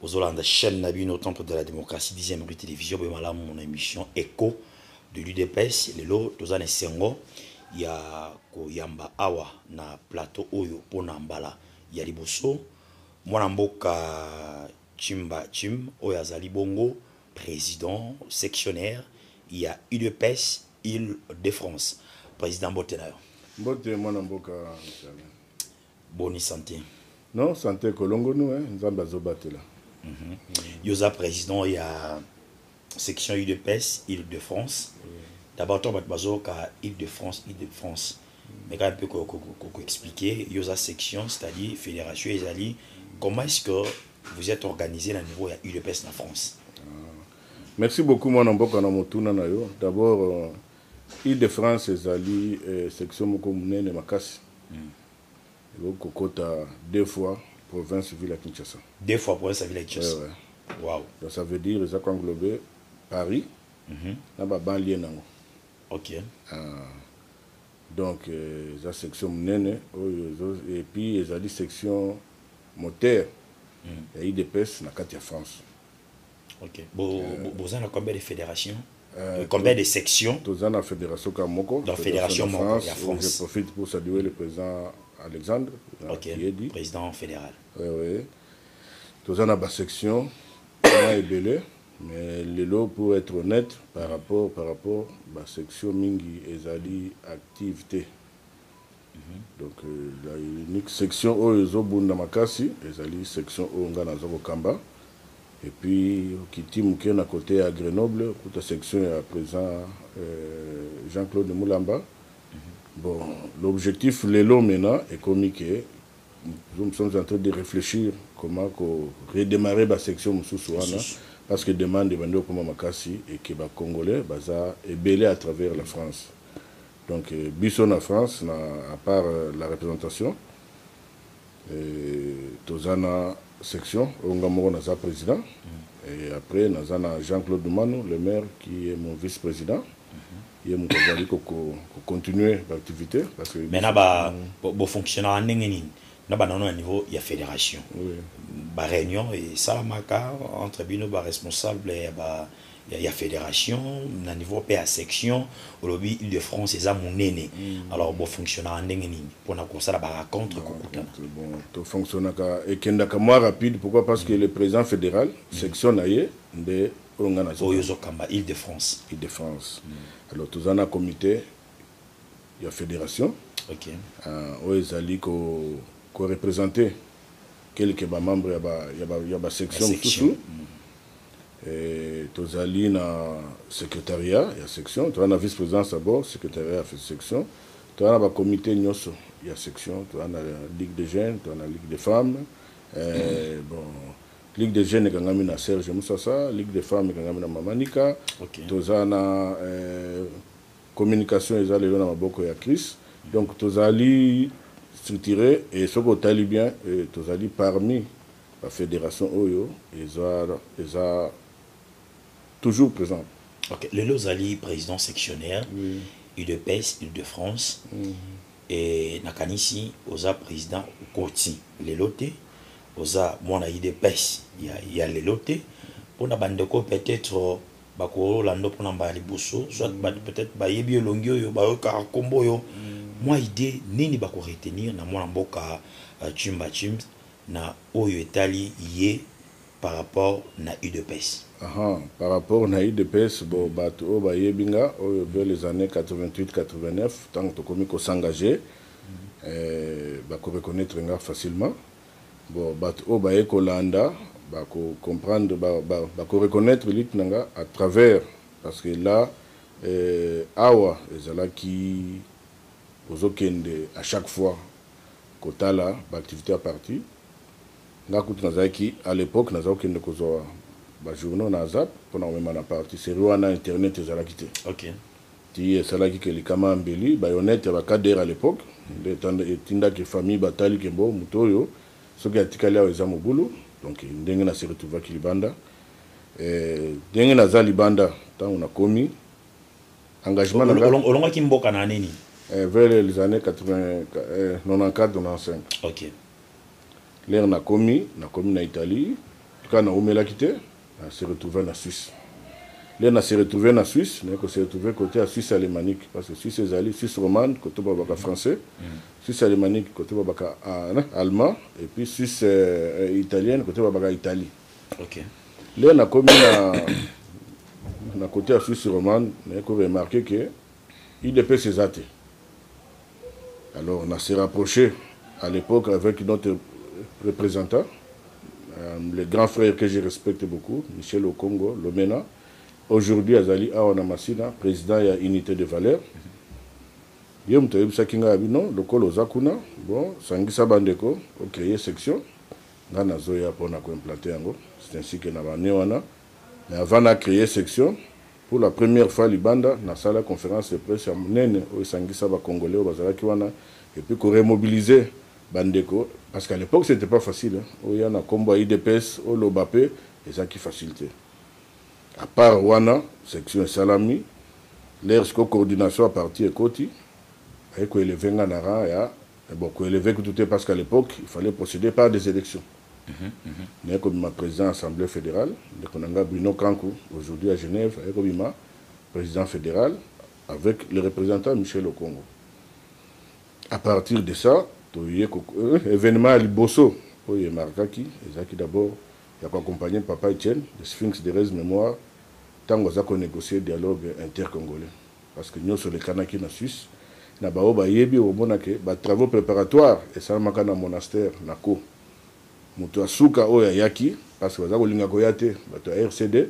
Bozolanda chaîne na bino Temple de la Démocratie 10e rue télévision boye malamu mon émission Echo de l'UDPS lelo toza na esengo ya koyamba awa na plateau oyo pona mbala ya liboso mwana mboka Chimba Chim oyo azali bongo président sectionnaire ya UDPS Île de France. Président mbote na yo. Mbote mwana mboka. Boni sante. Non sante kolongonu hein nzambe azo batela. Mm -hmm. Yo za president ya section udps ile de france d'abord to bato bazoyoka ile de france ile de france mais quand mpe koexplike yo oza section c'est-à-dire fédération ezali comment est-ce que vous êtes organisé na niveau ya udps na france ah. merci beaucoup mwana mboka na motuna na yo d'abord euh, Ile-de-France ezali section moko monene makasi, ekoki kokota deux fois province-ville ya Kinshasa. Deux fois province ya ville ya Kinshasa. Eh ouais. Wow. Donc ça veut dire eza ko englober Paris na ba banlieues nango. OK. Ah. Donc eza section monene oyo ezo et puis ezali section moteur ya udps na kati ya France. Ok. Bo, bo, boza na combien de fédérations Euh, Combien de sections toza na fédération ka moko Dans fédération de moko France, ya où France. je profite pour saluer le président alexandre na Ok. Kiyedi. Président fédéral. Ouais, ouais. toza na basection na ebele mais lelo pour être honnête par rapport par rapport basection mingi ezali active te Donc la unique section oyo ezo bunda makasi ezali section oyo nga naza ko kamba et puis okiti muke na cote ya Grenoble okuta section ya president euh, Jean-Claude Mulamba bon l'objectif lelo mena ekomi ke nous sommes en train de réfléchir comment ko redémarrer ba section mosusu wana parce que demande ebandi okoma makasi et que ba congolais baza ebele à travers la France Donc biso na France na à part la representation toza na section oyo nga moko naza president et après naza na Jean Claude Dumanu le maire qui est mon vice président ye moto azali kocontinue baactivité parce que mais na ba bofonctionnaka ndenge nini na banano ya niveau ya fédération baréunion esalamaka entre bino baresponsable ya ba ya, ya federation na niveau pe ya section olobi ile de france eza monene mm. alors bofonctionnaka ndenge nini mpona kosala baracontre kokutana bon tofonctionnaka ekendaka mwa rapide pourquoi parce que mm. le président fédéral mm. section na ye nde oyo ngai nazo oyo ozokamba ile de france ile de france mm. alors toza na comité ya fédération okay. uh, oyo ezali ko, ko représenter quelque bamembre ya basection mosusu ba, ya ba, ya ba section, section. Mm. Ee, tozali na Secretariat ya section, tozali na vice-presidence ya bord, Secretariat ya section, tozali na ba comites nionso ya section, tozali na Ligue des jeunes, tozali na Ligue des femmes, ee, bon, Ligue des jeunes ekangami na Serge Musasa, Ligue des femmes ekangami na Mama Nika, okay. Tozali na ee, communication eza lelo na maboko ya Chris, donc tozali structure, et soki otali bien, ee, tozali parmi Ba federation oyo eza eza toujours presente. Ok lelo ozali president sectionnaire oui. udps ile de France mm -hmm. e, nakanisi oza president okoti lelo te oza mwana udps ya, ya lelo te mpo na bandeko peut-être bakolanda mpona mbala liboso soit mm. peut-être bayebi elongi oyo bayokaka nkombo oyo mm. mwa idée nini bakoretenir na mwana mboka chimba euh, chimba na oyo etali ye par rapport na udps. Ahaa par rapport na udps bon batu oyo bayebi nga oyo vers les annees 88 89 tango tokomi ko s'engager ba ko reconnaitre nga facilement bon batu oyo baye kolanda ba ko comprendre ba ko reconnaitre lutte na nga à travers parce que là awa ezalaki ozo kende à chaque fois kotala ba activites ya parti nga kutu nazalaki à l'epoque naza kokende kozwa ba journaux na azap pona komema na parti serie wana internet ezalaki te okay. ti esalaki ke likama ya mbeli bayonete ya ba cadre à l'epoque nde etindaki famille batali kembo moto oyo soki atikali awa eza mobulu donc ndenge na se retrouvaki libanda eh, ndenge naza libanda ntango nakomi engagement na nga olongaki mboka na nini eh, vers les années 80 eh, 94 95 OK lere nakomi nakomi na Italie kaka naumelaki te na se retrouver na Suisse lere na se retrouver na Suisse na ko se retrouver côté ya Suisse alemanique parce que Suisse ezali Suisse romane côté ba baka français mm. Suisse alemanique côté ba baka ah, allemand et puis Suisse euh, italienne côté ba baka Italie Ok. Leo na komi na na côté ya Suisse romane mais ko remarquer que IDPS eza te. Alors na se rapprocher à l'époque avec notre représentant euh, le grand frère que je respecte beaucoup Michel Okongo Lomena aujourd'hui azali awa na Masina président ya unité de valeur. Mm -hmm. ye moto ayebisaki ngai abi non lokola oza kuna bon sangisa bandeko ocreye section Nga nazoya pona ko implante yango c'est ainsi que na ba annee wana mais avant na creer section pour la première fois libanda nasala conference de presse ya munene oyo esangisa ba congolais oyo bazalaki wana et puis ko remobiliser ba ndeko parce qu'à l'epoque ce n'etait pas facile oya na kombo ya udps oloba pe ezalaki facile te à part wana section esalami lheure sikoyo coordination ya parti ekoti baye ko elever nga na rang ya Mais bon, ko elever kutu te parce qu'à l'epoque, il fallait procéder par des elections. Naye kobima president ya Assemblee federale, ndeko na nga Bruno Kanku, aujourd'hui à Genève, aye kobima president federal avec le representant Michel Okongo. À partir de ça, toye ko, euh, evenement ya liboso oyo e marquaki ezalaki d'abord ya ko accompagner Papa Etienne, le Sphinx de Rez Memoire, tango aza ko negocier dialogue intercongolais. parce que nioso elekanaki na Suisse, na ba oyo bayebi okomona ke ba travaux preparatoires esalamaka na monastère na ko, mutu ya suka oyo ayaki parce que baza kolinga koya te batu ya RCD,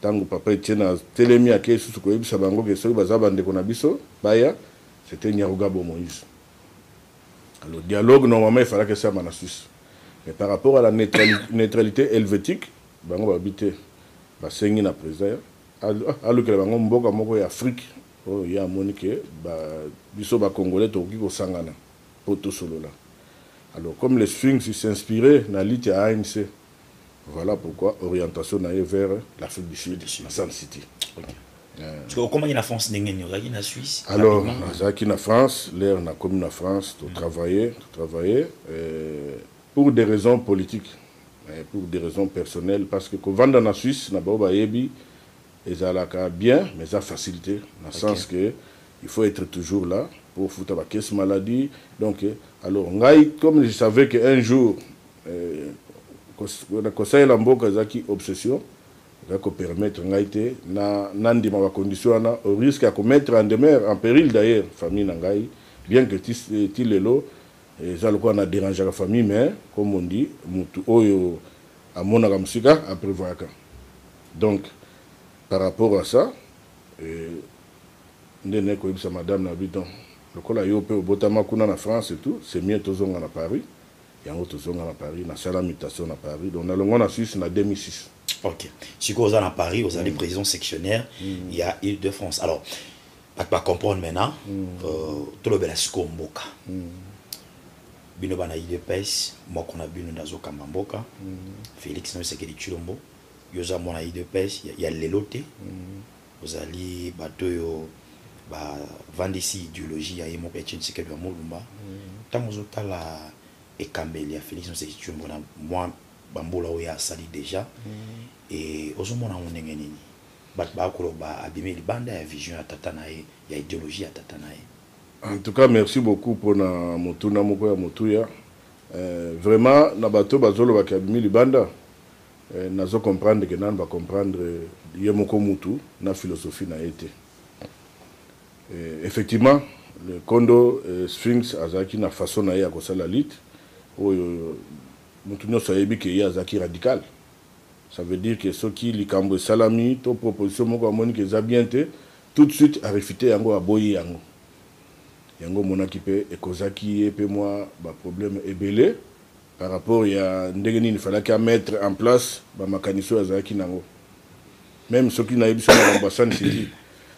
tangu papa Etienne atelemi akeyi lisusu koyebisa bango ke soki baza ba ndeko na biso baya, c'etait Nyarugabo Moïse. Alors dialogue normalement efalaki esalama na Suisse mais par rapport à la neutralite helvetique bango balobi te basengi na president ya Alukela bango mboka moko ya Afrique oyo ye amoni que biso ba congolais tokoki kosangana po tosolola. Alors comme le Sphinx s'inspire na lutte ya ANC, voila pourquoi orientation na ye vers l'Afrique du Sud, na Sun City. Sikoyo okomaki na France ndenge nini? Ozalaki na Suisse? Alors nazalaki na France, l'heure nakomi na France to travailler, to travailler pour des raisons politiques. mais pour des raisons personnelles parce que kovanda na Suisse na baoyo bayebi ezalaka bien mais eza facile te na okay. sens que il faut être toujours là pour futa ba caisse maladie donc alors ngai comme je savais que un jour euh, kosalela mboka ezalaki obsession ezalaki kopermettre ngai te na nandima bacondition wana au risque ya komettre en demeure en péril d'ailleurs famille na ngai bien que ti, ti lelo Eza lokola na derangeaka famille mais comme on dit mutu oyo amonaka musika a prevoyaka donc par rapport à ça nde naye koyebisa madame na bi donc lokola yo pe obotama kuna na France et tout c'est mieux tozonga na Paris yango tozonga na Paris nasala mutation na Paris donc nalongwa na Suisse na 2006. Ok sikoyo oza na Paris ozali president sectionnaire ya Ile de France alors bato ba comprendre maintenant mm. euh, tolobela sikoyo mboka mm. bino bana idps moko na bino nde azokamba mboka mm. félix na osekeli tshilombo yo oza mwana idps ya, ya lelo te mm. ozali bato oyo bavandisi ideologie ya ye moko ya tshinsekedi ya molumba ntango mm. ozotala ekambeli ya félix noseki tshilombo na mwa bambula oyo asali déjà mm. e ozomona yango ndenge nini Batu baya koloba abimi libanda ya vision ya tata na ye, ya ideologie ya tata na ye. En tout cas merci beaucoup pona motuna moko ya motuya eh, vraiment na bato oyo bazo loba ke abimi libanda eh, nazo comprendre ke nanu ba comprendre ye moko mutu na philosophie na ye te eh, effectivement le kondo eh, Sphinx azalaki na façon na ye ya kosala lutte oyo mutu nionso ayebi ke ye azalaki radical Ça veut dire que soki likambu esalami to proposition moko amoni que eza bien te, tout de suite a refuter yango, aboyi yango. Yango omonaki pe e causaki ye pe mua ba problèmes ebele par rapport ya ndenge nini il fallaki a mettre en place ba makanisi oyo azalaki nango. Meme soki nayebisi yo makambo ya Sun City,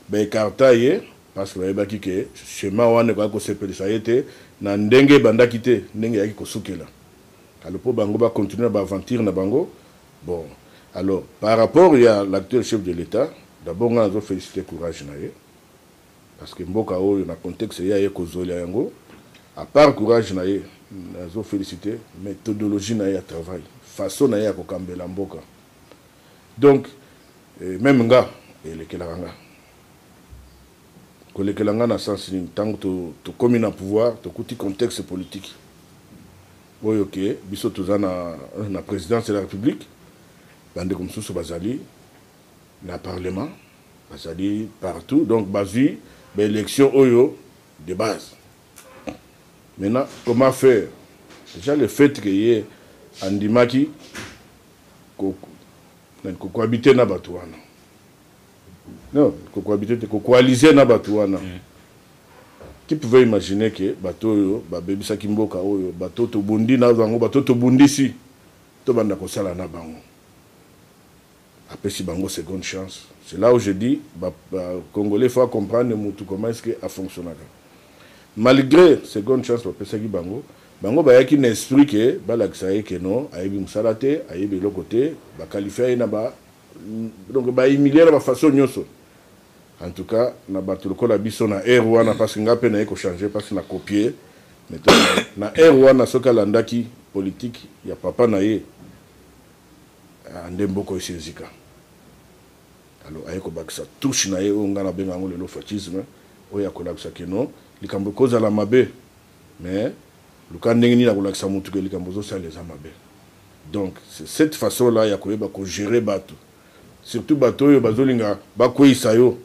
ba ecarta ye parce que bayebaki que chemin wana ekokaki kosepelisa ye te na ndenge ebandaki te, ndenge eyaki kosukela. Alors po bango ba continuer na ba aventure na bango bon alors par rapport ya l'actuel chef de l'etat d'abord nga nazo feliciter courage na ye parce que mboka oyo na contexte ye aye kozuela yango à part courage na ye nazo feliciter methodologie na ye ya travail façon na ye ya kokambela mboka donc meme nga elekelaka nga Kolekela nga na sens nini? Tangu to tokomi na pouvoir tokuti contexte politique oyo ke biso toza na na presidence de la republique bandeko mosusu bazali na parlement bazali partout donc bazui ba election oyo de base maintenant comment faire déjà le fait que ye andimaki ko, ko cohabiter na bato wana Non, ko cohabiter te, ko coaliser na batu wana. Qui pouvait imaginer que batu oyo babebisaki mboka oyo, batu oyo tobundi na bango, batu oyo tobundisi, tobanda kosala na bango? Apesi bango seconde chance. C'est là où je dis, ba congolais il faut a comprendre mutu comment est-ce que a fonctionnaka. Malgre seconde chance bapesaki bango, bango bayaki na esprit que balakisa ye que non, ayebi musala te, ayebi eloko te, ba qualifia ye na ba donc ba humilia na ba façon nyoso en tout cas na bato lokola biso na heure wana parce nga pe naye ko changer parce na copier na heure wana soki alandaki politique ya papa na ye ah, nde mboko esi ezika alors aye kobakisa touche na ye oyo ngai nabenga yango lelo fascisme oyo akolakisa kino likambo ekozala mabe Mais luka ndenge nini akolakisa mutu ke likambo ozosala eza mabe. Donc c'est cette façon là ya koyeba ko gerer batu. Surtout batu oyo bazolinga bakweyisa yo.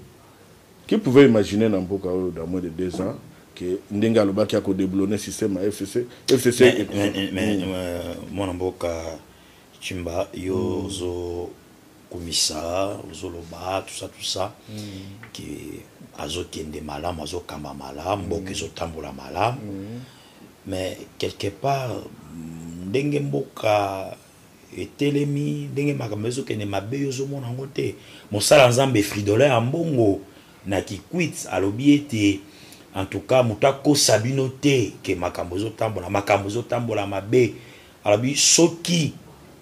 Qui pouvait imaginer na mboka oyo dans moins de deux ans que ndenge alobaki ako deboulonner système ya FCC, FCC Mais, eko mais, mais, euh, mwana mboka Tshimba yo ozo kumisa ozoloba tout ça tout ça ke azokende malamu azokamba malamu mboka mm. ezotambola malamu mm. mais quelque part ndenge mboka etelemi ndenge makambo ezokende mabe yo ozomona yango te mosala nzambe fridola ya mbongo na kikwit alobi ete en tout cas moto akosa bino te ke makambo ezotambola makambo ezotambola mabe Alobi soki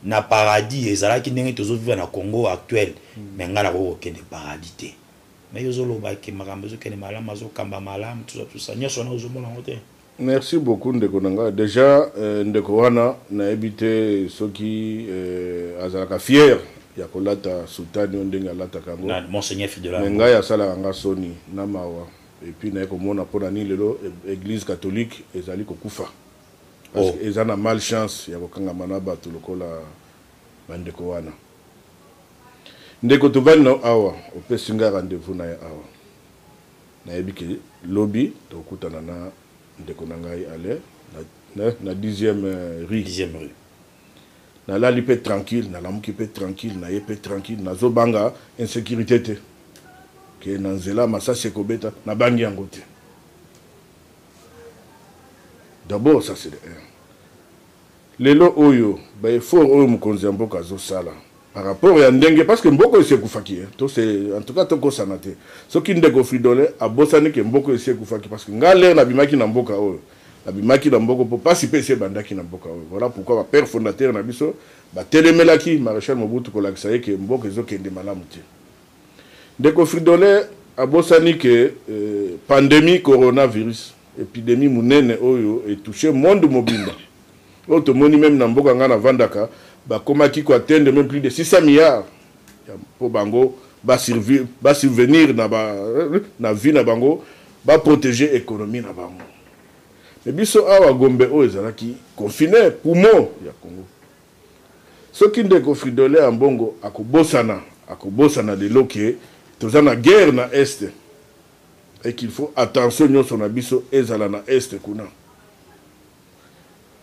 na paradis ezalaki ndenge tozo vivre na Congo actuel mais nga nakoki kokende paradis te mais yo ozoloba ke makambo ezokende malamu azokamba malamu tout ça tout ça nyonso wana ozomona yango te Merci beaucoup ndeko na nga. Dejà euh, ndeko wana nayebi te soki euh, azalaka fier ya kolata soutane oyo ndenge alataka yango. Na Monseigneur Fidela. Mais ngai asalaka nga soni na mawa et puis naye komona mpo na nini lelo e- Eglise catholique ezali kokufa. Parce oh. eza na mal chance ya kokangama na bato lokola bandeko wana ndeko tovandi na awa opesi ngai rendez-vous na ye awa nayebi ke lobi tokutana na ndeko na ngai ale na, na, na dixième euh, rue dixième rue nalali mpe tranquille nalamuki mpe tranquille naye mpe tranquille nazobanga insécurité te ke na nzela masasi ekobeta nabangi yango te D'abord ça c'est de un. Lelo oyo ba efforts oyo mokonzi ya mboka azo sala par rapport ya ndenge parce que mboka esi ekufaki hein, to se en tout cas to kosana te. Soki ndeko Fridolin abosani que mboka esi ekufaki parce que nga l'heure na bimaki na mboka oyo na bimaki na mboka po pasi pe esi ebandaki na mboka oyo. Voilà pourquoi ba pères fondateurs na biso ba telemelaki Marechal Mobutu kolakisa ye que mboka ezo kende malamu te. Ndeko Fridolin abosani que pandemie coronavirus, epidemie munene oyo e toucher monde mobimba, oyo tomoni meme na mboka ngai navandaka bakomaki ko atteindre meme plus de 600 milliards mpo bango ba survenir na ba na vie na bango, ba proteger economie na bango. Mais biso awa Gombe oyo ezalaki confiner, poumon ya Congo. Soki ndeko Fridolin Ambongo akobosana, akobosana lelo que toza na guerre na Est et qu'il faut attention nionso na biso ezala na Est kuna.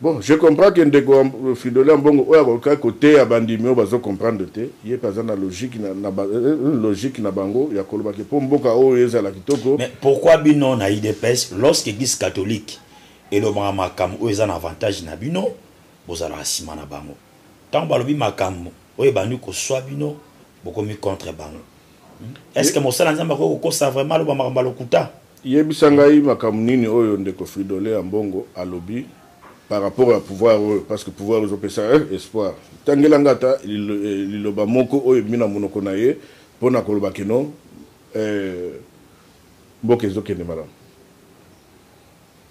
Bon, je comprends que ndeko Fridolin Ambongo oyo akokaki koteya bandimi oyo bazo comprendre te, ye pe aza na logique na, na ba, logique na bango ya koloba que po mboka oyo ezala kitoko. Mais pourquoi bino na udps lorsque eglise catholique elobaka makambo oyo eza na avantage na bino, Bozalaka sima na bango. Tango balobi makambo oyo ebandi koswa bino, bokomi contre bango. Est-ce que mosali ya Nzambe akoki kokosa vraiment aloba makambo ya lokuta? Yebisa ngai makambo nini oyo ndeko Fridolin Ambongo alobi par rapport ya pouvoir oyo parce que pouvoir ezo pesa ye espoir. Tangela ngai ata liloba moko oyo ebimi na monoko na ye pona koloba que non mboka ezo kende malamu.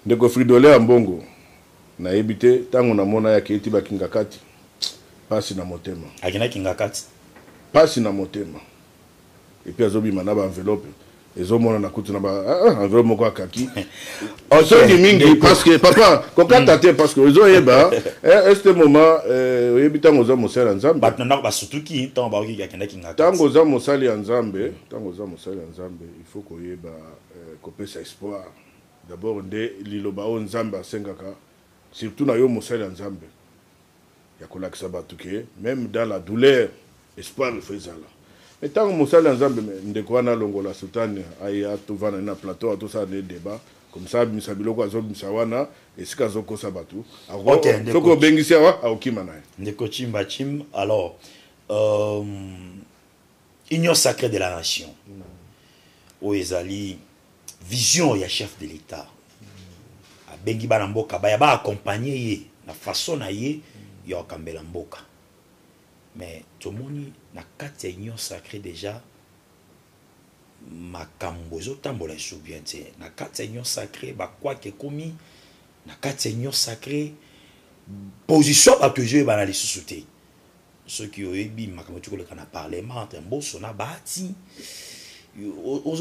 Ndeko Fridolin Ambongo. Nayebi te tango na mona ya keti ba kingakati pasi na motema. Akenda kingakati. Pasi na motema. Et puis azo bima na ba enveloppe ezomonana kutu na baenveloppe ah, ah, moko akaki osongi mingi parce que papa kokata te parce que ozoyeba eh, este moment eh, oyebi ntango oza mosali ya nzambe bato na ndako basutuki ntango baoki akendaki nga ntango oza mosali ya nzambe ntango oza mosali ya nzambe il faut koyeba eh, kopesa espoir D'abord nde liloba oyo Nzambe asengaka surtout na yo mosali ya Nzambe ya kolakisa batu ke meme dans la douleur espoir il faut ezala mais tango mosali ya Nzambe mais ndeko wana alongola soutane aya tovanda na plateau awa tosala nde debat comme ça abimisa biloko azobimisa wana esika azokosa batu okay, soki obengisi awa akokima na ye ndeko chimba chim alors euh... union sacrée de la nation oyo ezali vision ya chef de l'état abengi bana mboka baya baakompagne ye na façon na ye ya kokambela mboka mais tomoni na kati ya union sacrée déjà makambo ezotambola esu bien te na kati ya union sacrée bakwaka ekomi na kati ya union sacrée position bato ezoyebana lisusu te soki oyebi makambo ti koleka na parlement entre mboso na bahati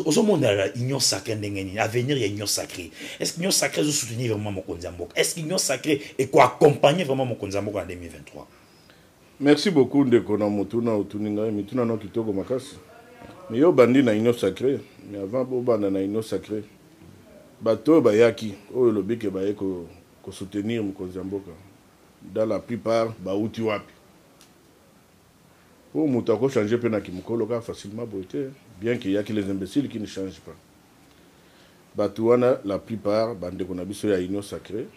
ozomonela union sacré ndenge nini avenir ya union sacré est ce que union sacré ezosoutenir vraiment mokonzi ya mboka est ce que union sacré ekoaccompagne vraiment mokonzi ya mboka na 2023 merci beaucoup ndeko na motuna otuni ngai mituna nao kitoko makasi mais yo obandi na union sacré mais avant bobanda na union sacré bato oyo bayaki oyo olobike baye kosoutenir mokonzi ya mboka Dans la plupart bawuti wapi? Po mutu ako changer pe na kimukolo kaka facilement boye te bien que il ya que les imbeciles qui ne changent pas. Batu wana la plupart ba ndeko na biso ya union sacree,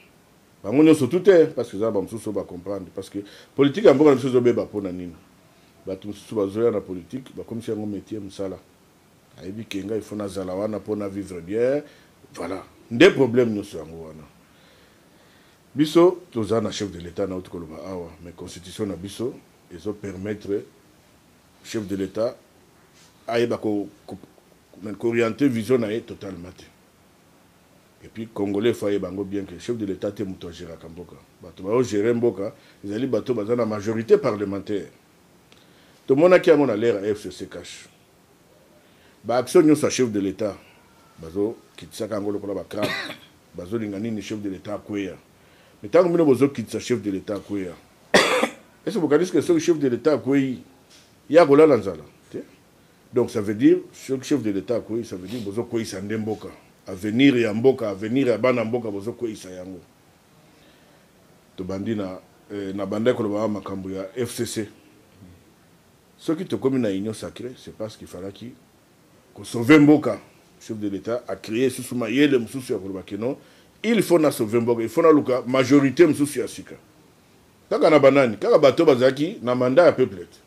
bango nionso tout te parce que eza na ba mosusu oyo ba comprendre parce que politique ya mboka na biso ezo beba pona nini? Batu mosusu bazo ya na politique bakomisi yango metier, musala. Ayebi que nga il faut nazala wana po na vivre bien, voilà nde problème nionso yango wana. Biso to za na chef de l'etat na uti ko loba awa mais constitution na biso ezo permettre chef de l'etat ayeba ko orienter vision na ye totalement te et puis congolais faut ayeba ngo bien que chef de l'etat te mutu a geraka mboka batu ba o gerer mboka ezali batu ba za na majorite parlementaire to monaki yango na l'heure ya FCC cache Ba actions nionso ya chef de l'etat bazo kitisaka yango lokola ba crab bazo linga nini chef de l'etat akweya mais tango bino bozo kitisa chef de l'etat akweya est-ce bokanisi que soki chef de l'etat akweyi ye akolala nzala te donc ça veut dire soki chef de l'etat akweyi ça veut dire bozo kweyisa nde mboka avenir ya mboka avenir ya bana mboka bozo kweyisa yango tobandi na eh, nabandaki koloba makambo ya fcc Soki tokomi na union sacree c'est parce qu'il falaki ko sauver mboka, chef de l'etat a creer lisusu mayele mosusu ya koloba que non il faut na sauver mboka, il faut naluka majorite mosusu ya sika. Kaka na ba nani? Kaka bato oyo bazalaki na mandat ya peuple te.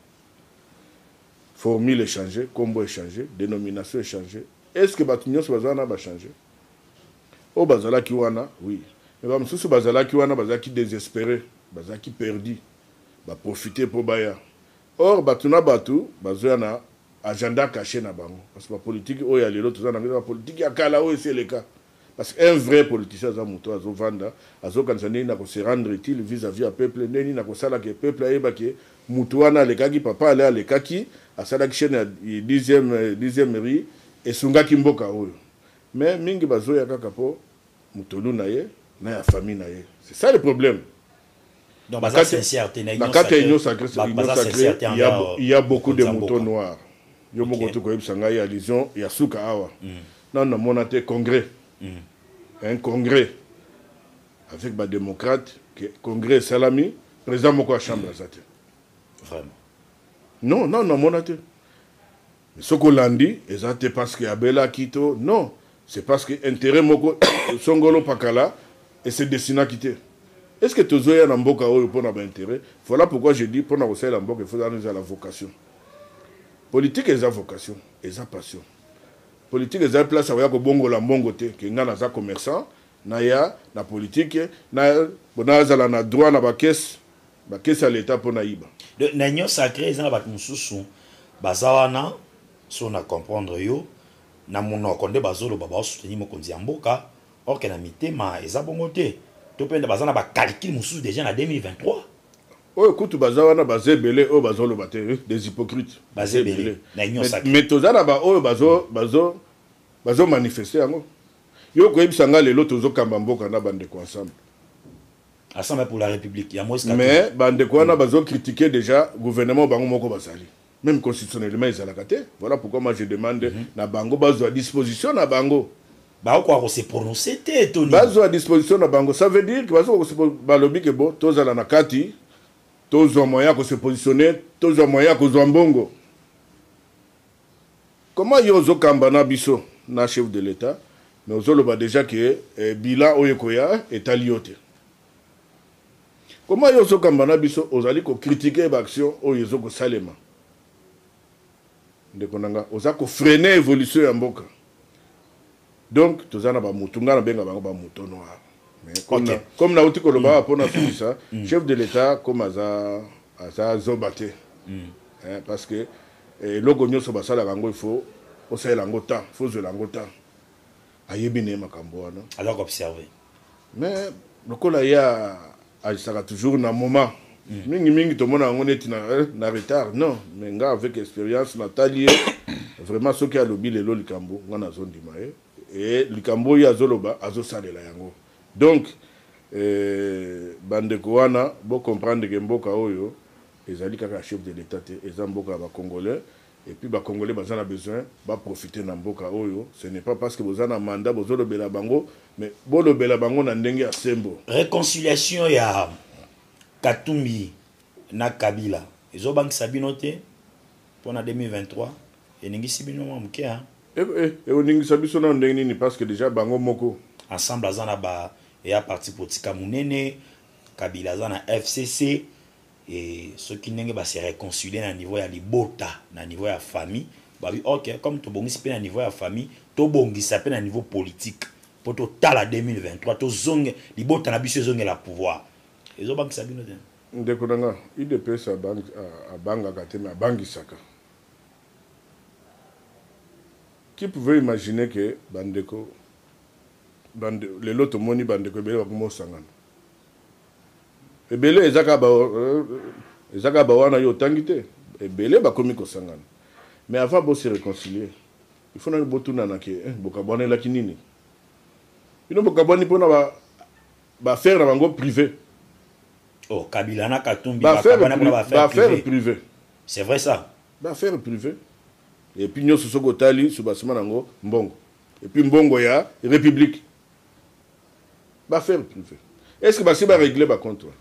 Formule echange, kombo echange, denomination echange, est ce que bato nionso baza wana ba change? Oyo bazalaki wana oui mais ba mosusu bazalaki wana bazalaki desesperer, bazalaki perdus. ba profiter po baya or batu na batu bazoya na agenda cache na bango parce que ba politique oyo ya lelo toza nango eza ba politique ya kala oyo esi eleka parce que un vrai politicien aza mutu azo vanda azo kanisa ndenge nini ako se rendre utile vis à vis ya peuple ndenge nini ako sala ke peuple ayeba ke mutu wana alekaki papa ale alekaki asalaki chaine ya 10e 10e rue esungaki mboka oyo mais mingi bazoya kaka po mutolu na ye na ya famille na ye c'est ça le problème Donc, na baza kati sincère te, na Union na kati ya Sacrée, union sacrée ba- union baza sacrée sincère te il y a envers, bo- il y a euh, beaucoup de mokonzi ya moutons mboka. noirs yo moko Ok. te koyebisa ngai allusion ya suka awa nanu namona te congrès un congrès avec badémocrate que congrès esalami président moko ya chambre aza te Vraiment. non nanu namona te Soki olandi eza te parce que abelaki to non c'est parce que interet moko songolo pakala e se destinaki te est ce que tozo ya na mboka oyo pona ba interet voilà pourquoi je dis pona kosalela mboka il faut ozala eza la vocation politique eza vocation eza passion politique eza place ya koya kobongola mbongo te ke ngai naza commerçant naya na politique na nazala na droit na ba caisse Ba caisse ya l'etat pona yiba. Donc na union sacrée eza na bato mosusu baza wana so na comprendre yo na monoko nde bazoloba baosoutenir mokonzi ya mboka or que na mitema eza bongo te to mpe nde baza na bacalcule mosusu déjà na 2023 oyo kutu baza wana baza ebele oyo bazoloba te eh, des hypocrites baza ebele na union Mais- sacrée mais toza na baoyo bazo bazo bazo manifeste yango yo koyebisa ngai lelo tozokamba mboka na bandeko ensemble asamba pour la république ya moise mais bandeko wana bazo critiquer déjà gouvernement bango moko bazali même constitutionnellement ezalaka te voilà pourquoi moi je demande mm -hmm. na bango bazwa disposition na bango bakokoka kose prononce te toni bazwa disposition na bango ça veut dire bazokoka balobi ke bo tozala na kati tozwa moyen ya kose positionne tozwa moyen ya kozwa mbongo Comment yo ozo kamba na biso na chef de l'etat mais ozo loba dejà que eh, bilan oyo ekoya etali yo te. Comment yo ozo kamba na biso ozali ko critiquer ba action oyo ezo ko salema. Ndeko nanga oza ko freiner evolution ya mboka. Donc toza na ba mutu nga na benga bango ba moto noir. Mais comme okay. na comme na uti koloba mm. pona sukisa mm. chef de l'etat comme aza aza zoba te. Mm. Eh, parce que eh, eloko nyonso basalaka yango il faut osalela yango temps faut ozwela yango temps ayebi na ye makambo wana aza koobserve mais lokola ye agisaka toujours na moment mm. mingi mingi tomona yango neti na, eh, na retard non mais nga avec expérience natali ye vraiment soki alobi lelo likambo nga nazondima ye e likambo oyo azoloba azosalela yango donc eh, bandeko wana bocomprendre ke mboka oyo ezali kaka chef de l'état te eza mboka ya bacongolais Et puis ba congolais baza na besoin ba profiter na mboka oyo ce n'est pas parce que boza na mandat bozo lobela bango mais bo lobela bango na ndenge ya sembo. Reconciliation ya Katumbi na Kabila ezo bangisa bino te pona 2023 eningisi bino mwa moke hein. Eh, eh, ekoningisa biso nano ndenge nini parce que déjà bango moko ensemble aza na ba eya parti politika monene kabila aza na fcc Et soki ndenge ba se reconcilier na niveau ya libota, na niveau ya famille, ba bi ok comme to bongisi pe na niveau ya famille, to bongisa pe na niveau politique po to tala 2023 to zonge libota na biso ezongela pouvoir. Ezo bangisa bino te? Ndeko na nga, udps abangaka te mais abangisaka. Qui pouvait imaginer que bandeko, bande, lelo tomoni bandeko ebele bakomi osangana. ebele eza kaka ba eza kaka ba wana yo otangi te ebele bakomi kosangana mais avant bo se réconcilier il faut nanu botunana ke eh, bokabwanelaki nini bino bokabwani mpona ba baaffaire na bango privé oh, kabila na katumbi bakabwana mpona baaffaire privé c'est vrai ça baaffaire privé epuis nyonso soki otali subasima na yango mbongo epuis mbongo ya république ba ferme privé est ce que basi ba régler ba compte wana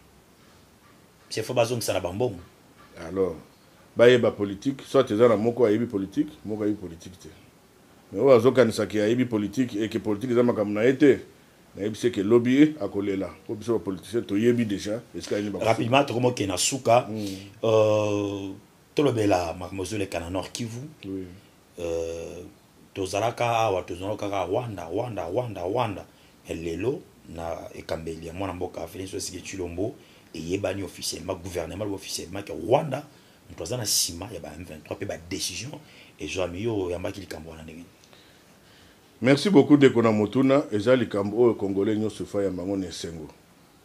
c'est faut bazongisa na bambongo alors bayeba politique soit eza na moko ayebi politique moko ayebi politique te mais oyo azokanisa ke ayebi politique eke politique eza makambo na ye te nayebisi eke lobi akolela mpo biso bapoliticien toyebi déjà esika nini rapidement tokoma okende na suka hmm. euh, tolobela makambo ezoleka na nord kivu oui. Euh, tozalaka awa tozonga kaka rwanda rwanda rwanda rwanda mais lelo na ekambeli ya mwana mboka felix osike chilombo eyebani officiellement gouvernement lobi officiellement ke rwanda moto aza na nsima ya ba m23 mpe badécision ezwami yo oyambaki likambo wana ndenge merci beaucoup ndeko na motuna eza likambo oyo congolais nyonso efai ya bango na esengo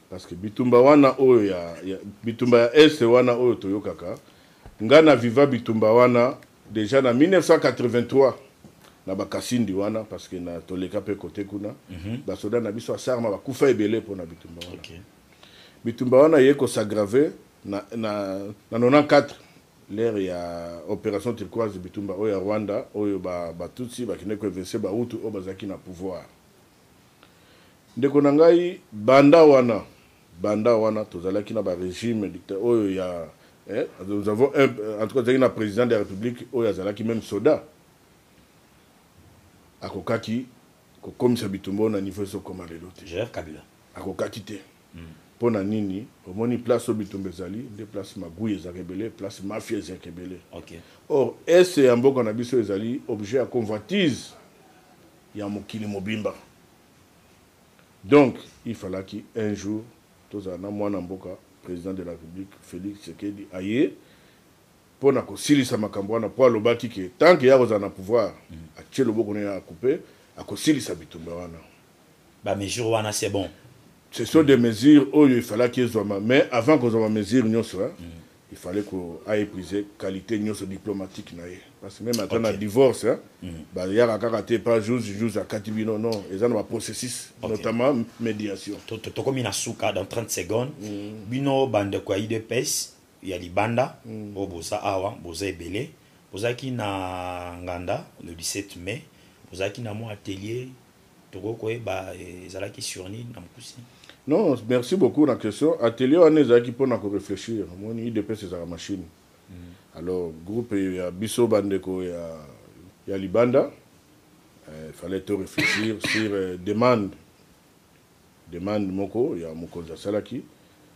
Parce que bitumba wana oyo ya, ya bitumba ya est wana oyo toyokaka nga na viva bitumba wana deja na 1983 na bakasindi wana parce que na toleka pe kote kuna mm -hmm. basoda na biso asarma bakufa ebele mpo na bitumba wana okay. bitumba wana ye kosagrave na, na, na 94 l'ère ya opération turquoise bitumba oyo ya rwanda oyo batutsi ba bakende koevinse bahutu oyo bazalaki na pouvoir Ndeko na ngai banda wana banda wana tozalaki na ba regime dicta oyo ya eh, nous avons un en tout cas tozalaki na president de la republique oyo azalaki meme soda akokaki kokomisa bitumba oyo na niveau ezokoma lelo te Gerard Kabila. akokaki te mpo na nini omoni place oyo bitumba ezali nde place magui ezalaka ebele place mafia ezalaka ebele Ok. or est ya mboka na biso ezali objet ya convoitise ya mokili mobimba donc il falaki un jour tozala na mwana mboka president de la republique Felix Tshisekedi aye mpo na kosilisa makambo wana mpo alobaki ke tant ke ya kozala na pouvoir mm. atie loboko na ye ya akupe akosilisa bitumba wana ba mesure wana c'est bon Ce sont des mesures oyo il falaki ezwama mais avant kozwa ba mesures nionso hein, il fallait ko a epuiser qualite nionso diplomatique na ye parce que meme ata na divorce hein, bayaka kaka te epa juge, juge akati bino non, eza na ba processus notamment mediation. Tokomi na suka dans 30 secondes, bino bandeko ya udps ya libanda oyo boza awa boza ebele, bozalaki na nganda le 17 mai, bozalaki na mwa atelier tokoki koyeba eh, ezalaki sur nini na mokuse non merci beaucoup na question atelier wana ezalaki mpona koreflechir omoni idps ezalaka machine mm. alors groupe ya biso bandeko ya, ya libanda eh, fallait to réfléchir sur eh, demande Demande moko ya mokonzi asalaki,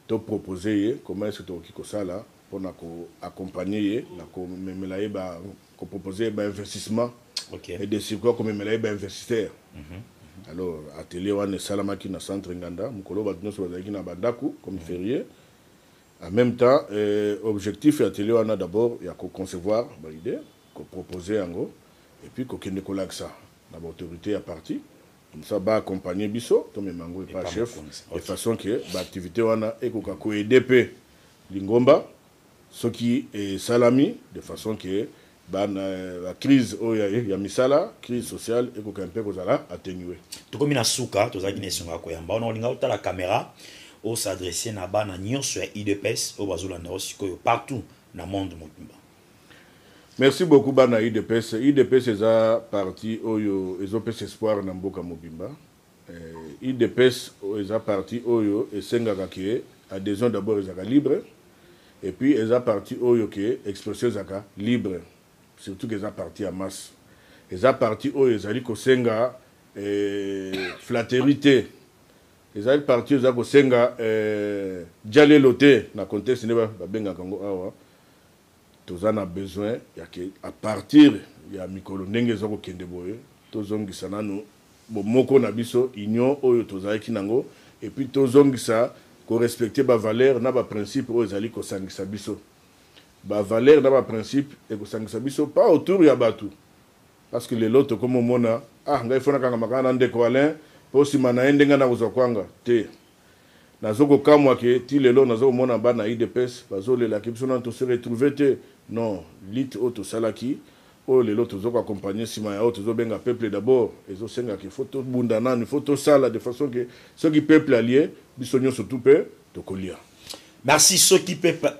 to proposer ye comment est-ce que tokoki kosala pona ko accompagner ye na komemela ye ba ko proposer ye ba investissement okay. et de surcroit komemela ye ba investisseur mm -hmm. alors atelier wana esalamaki na centre nganda mokolo bato nyonso bazalaki na bandako comme mm. ferier en même temps euh, objectif ya atelier wana d'abord ya koconcevoir baide kopropose yango epuis kokende kolakisa na baautorité ya parti Comme ça ba accompagner biso tomema yango epa chef de façon que ba activités wana ekoka ko aider pe lingomba soki esalami de façon que ba crise oyo ya misala crise sociale ekoka mpe kozala atténuer. Tokomi na suka tozalaki na esengo ya koyamba wana olinga otala camera o s'adresser na bana nyonso ya udps oyo bazolanda yo sikoyo partout na monde mobimba. Merci beaucoup bana udps udps eza parti oyo ezopesa espoir na mboka mobimba udps eh, eza parti oyo esengaka ke adhesion d'abord ezaka libre et puis eza parti oyo ke expression ezaka libre surtout que eza parti ya masse eza parti oyo ezali kosenga eh, flatterie te ezali parti eza kosenga eh, jalelo te na contexte nde babengaka yango awa Toza na besoin ya ke à partir ya mikolo ndenge ezo ko kende boye to zongisa nanu bomoko na biso, union oyo tozalaki nango et puis to zongisa ko respecter ba valeurs na ba principes oyo ezali ko sangisa biso. Ba valeurs na ba principes eko sangisa biso pas autour ya batu parce que lelo tokomi omona ah ngai faut na kangama kaka na ndeko Alain po sima na ye nde ngai nako zua kwanga te. Nazo ko kamwa que ti lelo nazo komona bana udps bazo lela que biso nanu to se retrouver te non lutte oyo tosalaki oyo lelo tozo ko accompagner sima ya oyo tozo benga peuple d'abord ezo senga que faut to bunda nanu il faut to sala de façon que soki peuple alie biso nionso tout pe toko lia. Merci soki peuple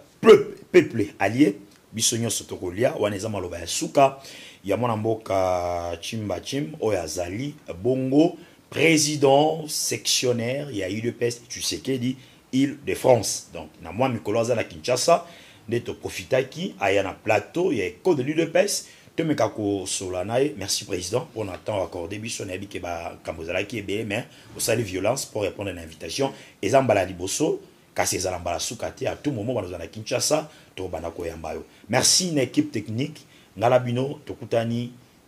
peuple alie biso nionso toko lia wana eza maloba ya suka ya mwana mboka Tshimba Tshim oyo azali bongo. President sectionnaire ya udps Tshisekedi Ile de France. Donc na mwa mikolo aza na Kinshasa nde to profitaki aya na plateau ya Echo de l'UDPS tomeka kosola na ye. Merci president mpo na temps accordé biso nayebi ke bakambo ezalaki ebele mais osali violence mpo répondre na invitation eza mbala ya liboso kasi ezala mbala suka te à tout moment bana ozala na Kinshasa tokobanda koyamba yo. Merci na equipe technique ngala bino tokutani